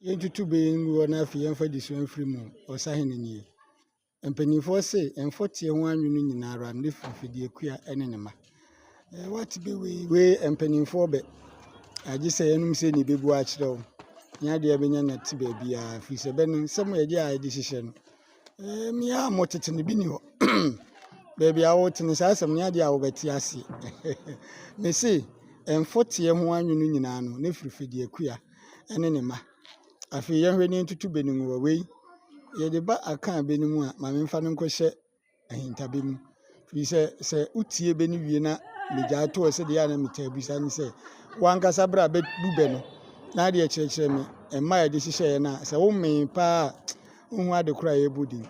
yɛntutu bɛ yɛ ngu hɔ na afei yɛmfa adesua mfiri mu. Ɔsahene nie. Mpanimfoɔ se mfɔteɛ ho anwene nyinaa ara ne fifidie kua ne ne ma. Wate bɛ wei wei mpanimfoɔ bɛ. Agye sɛ yɛnom sɛ ne bɛbu akyerɛ wo. Nya deɛ bɛnya na te baabiara firi sɛ bɛ no nsɛm yɛgye a yɛde hyehyɛ no. Ee, me ara mo tete no bi ni hɔ. Baabi a wote no, saa asɛm no adeɛ a wobɛte ase. Mese, mfɔteɛ ho anwono nyinaa no, ne firifidi akua ne ne mma. Afei yɛnhwɛ ne ntutu bɛ no mu wɔ wei. Yɛde ba akaa bɛ no mu a, ma memfa no nkɔhyɛ ahintabɛ mu. Firi sɛ, sɛ wotie bɛ no wie na megyae toɔ sɛ deɛ a na metaa bisa ne sɛ, wankasa berɛ a bɛbu bɛ no, na adeɛ kyerɛkyerɛ me mma a ɛde hyehyɛeɛ no a, sɛ womee paa a, wonhu ade korɔ a ɛrebɔ din.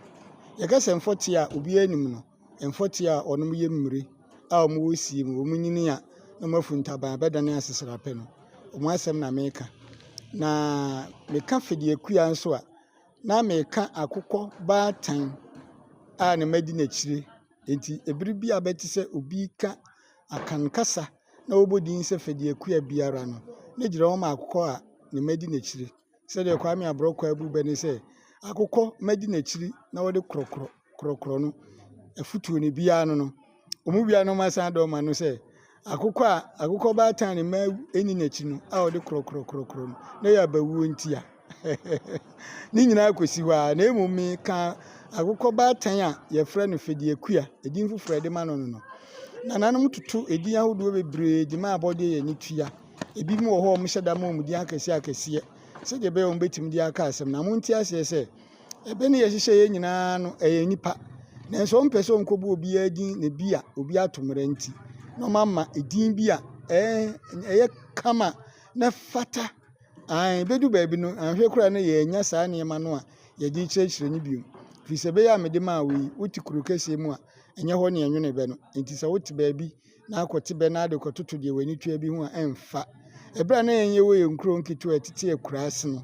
Yɛka sɛ mfɔteɛ a obiara nim no, mfɔteɛ a wɔnom yɛ mmire a wɔwɔ sie mu, wɔn nyini a na wɔafu ntaban a bɛdane aseserapɛ no, wɔn asɛm na meka. Na meka Fɛdiakua nso a, na meka akokɔ baatan a na madi n'akyire. Enti bere bi a ɛbɛte sɛ obi reka Akan kasa na ɔrebɔ din sɛ Fɛdiakua biara no, mɛgyina hɔ ma akokɔ a na madi n'akyire. Sɛdeɛ Kwame Aborɔkwaa bu bɛ ne sɛ, Akokɔ madi n'akyiri na ɔde korɔkorɔ. korɔkorɔ no afutuo no ebiara ano no, wɔn mu biara na wɔasan de ama no sɛ, akokɔ a akokɔ baatan a ne mma nni n'akyi no a wɔde korɔkorɔ korɔkorɔ no, na ɛyɛ abawuo nti a. ne nyinaa kɔsi hɔ ara, na mmom meka akokɔ baatan a yɛfrɛ no Fɛdiakua, edin foforɔ a yɛde ma no no no. Nananom toto edin ahodoɔ bebree de ma abɔdeɛ yɛ ne tua. Ebinom wɔ hɔ a wɔhyɛ da ma wɔn din akɛseɛ akɛseɛ sɛdeɛ ɛbɛyɛ a wɔbɛtumi de aka asɛm na monte aseɛ sɛ Ɛbɛ ne yɛhyehyɛeɛ nyinaa no, ɛyɛ nnipa. Nanso ɔmpɛ sɛ ɔnkɔbɔ obiara din na bi a obi ato mmara nti na ɔmama edin bi a ɛɛ ɛyɛ kama na fata. Ae, bɛdu baabi no, anhwɛ koraa no yɛanya saa nneɛma no a yɛde rekyerɛkyerɛ no bio. Firi sɛ ɛbɛyɛ a mede maa wo yi, wote kuro kɛseɛ mu a, ɛnyɛ hɔ ne ɛnwene bɛ no. Enti sɛ wote baabi na akɔte bɛ na ade rekɔtoto deɛ w'ani tua bi ho a, ɛmfa. Ɛberɛ a na yɛn yɛwɔ yɛn nkuro nketewa a ɛtete akuraase no,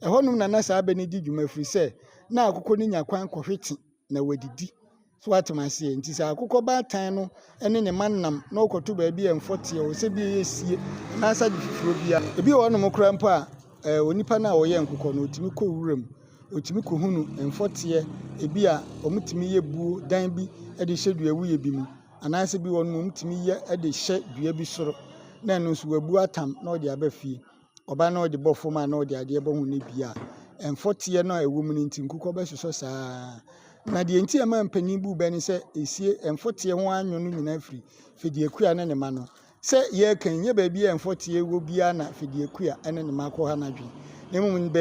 ɛhɔnom na na saa bɛ no di dwuma firi sɛ na akokɔ no nya kwan kɔhwete na wadidi. So atem aseɛ nti sɛ akokɔ baatan no ne ne ma nam na ɔkɔto baabi a mfɔteɛ wɔ sɛ bi ɛyɛ sie anaasɛ ade foforɔ bi a ebi wɔ hɔnom koraa mpo a eh, onipa no a ɔyɛ nkokɔ no ɔtumi kɔ wuram ɔtumi kɔhunu mfɔteɛ ebi a wɔtumi yɛ buo dan bi de hyɛ dua wuyɛ bi mu Anaasɛ ebi wɔ hɔ no mmom tumi yɛ de hyɛ dua bi soro na ɛno nso wabu atam na ɔde aba fie. Ɔba na ɔde bɔ fam a na ɔde adeɛ bɔ ho na ebi a mfɔteɛ no a ɛwɔ mu no nti nkokɔ bɛsosɔ saa ara. Na deɛ nti a ɛma mpanin bu bɛ ne sɛ esie mfɔteɛ ho anwo no nyinaa firi Fediakua ne ne mma no. Sɛ yɛreka yi, nyɛ baabi a mfɔteɛ wɔ biara na Fediakua ne ne mma kɔ ha no adwene, na mmom bɛ.